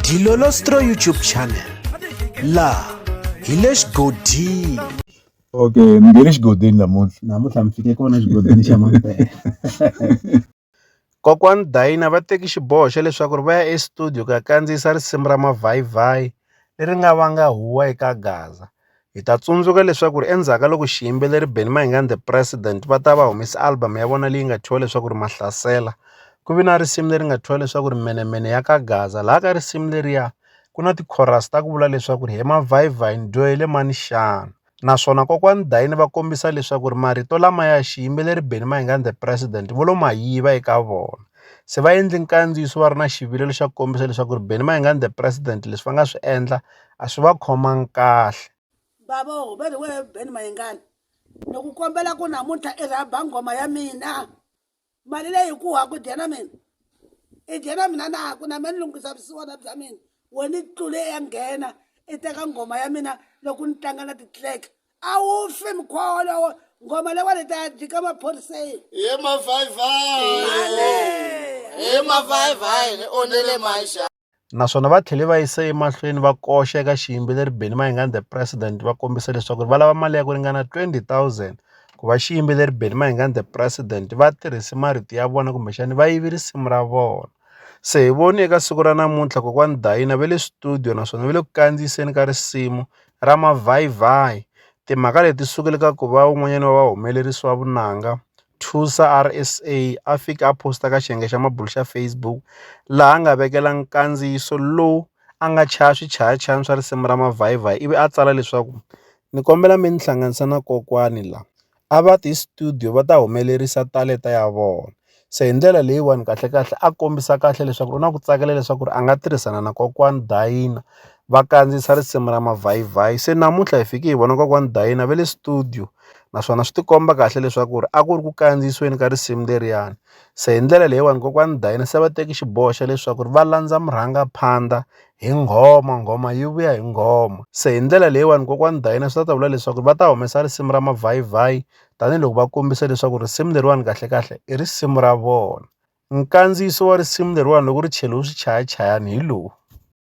Dilolostro YouTube channel laha hi le xigodini okay mi nge le xigodini namuntlha namuntlha mi fike kona xigodini xa mampela kokwani dayina va teki xiboho xa leswaku ri va ya estudio ku ya kandziyisa risimu ra mavhayivhayi leri nga vanga huwa eka gaza Hi ta tsundzuka leswaku ri endzhaku ka loko xiyimbeleri Benny Mayengani The President va ta va humesa album ya vona leyi nga thyiwa leswaku ri Mahlasela ku ve na risimu leri nga thyiwa leswaku ri Menemene ya ka Gaza laha ka risimu leriya ku na ti-chorus ta ku vula leswaku ri he mavhayivhayi ni dyohele mani xana naswona kokwani Dayini va kombisa leswaku ri marito lamaya xiyimbeleri Benny Mayengani The President vo lo ma yiva eka vona se va endli nkandziyiso va ri na xivilelo xa ku kombisa leswaku ri Benny Mayengani The President leswi va nga swi endla a swi va khomangi kahle bavo va ri wehe ben mayengani ni ku kombela ku namuntlha i rhaba nghoma ya mina mali leyi ku ha ku dya na mina i dya na mina na ku na me ni lunghisa vusiwana bya mina we ni tlule ya nghena i teka nghoma ya mina loko ni tlanga na ti-track a wu fi mkholo nghoma lewa ni ta ya dlika maphoriseni hi mavhayivhayi hi mavhayivhayi ni onele maxa naswona va tlhele va yisa emahlweni va koxa eka xiyimbeleri Benny Mayengani the President va kombisa leswaku va lava mali ya ku ringana 20 000 ku va xiyimbeleri Benny Mayengani the President va tirhise marito ya vona kumbexani va yive risimu ra vona se hi voni eka siku ra namuntlha kokwani Dayina va le studio naswona va le ku kandziyiseni ka risimu ra mavhayivhayi timhaka leti sukile ka ku va un'wanyana wa vahumelerisi wa vunanga Thusa RSA a fika a post-a ka xiyenge xa mabulo xa Facebook laha a nga vekela nkandziyiso lowu a nga chaya swichayachayani swa risimu ra Mavhayivayi ivi a tsala leswaku ni kombela mi ni hlanganisa na kokwani la a va ti studio va ta humelerisa talenta ya vona se hi ndlela leyiwani kahlekahle a kombisa kahle leswaku u na ku tsakela leswaku ri a nga tirhisana na kokwani Dayina va kandziyisa risimu ra Mavhayivayi se namuntlha hi fike hi vona kokwani Dayina va le studio naswona swi tikomba kahle leswaku ri a ku ri ku kandziyisiweni ka risimu leriyani se hi ndlela leyiwani kokwani Dayini se va teki xiboho xa leswaku ri va landza murhangaphandla hi nghoma nghoma yi vuya hi nghoma se hi ndlela leyiwani kokwani Dayini swi ta ta vula leswaku va ta humesa risimu ra mavhayivhayi tanihiloko va kombisa leswaku risimu leriwani kahlekahle i risimu ra vona nkandziyiso wa risimu leriwani loko ri cheliwe swichayachayani hi lowu.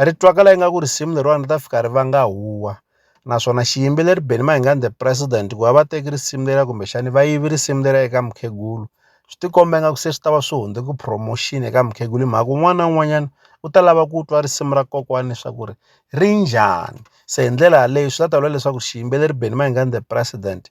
ri twakala ingaku risimu leriwani ri ta fika ri vanga huwa naswona xiyimbeleri Benny Mayengani the president ku va va teki risimu leriya kumbexani va yivi risimu leriya eka mukhegulu swi tikomba ingaku se swi ta va swi hundze ku promotion eka mukhegulu hi mhaka un'wana na un'wanyana u ta lava ku twa risimu ra kokwani leswaku ri ri njhani se hi ndlela yaleyo swi ta ta vula leswaku xiyimbeleri Benny Mayengani the president.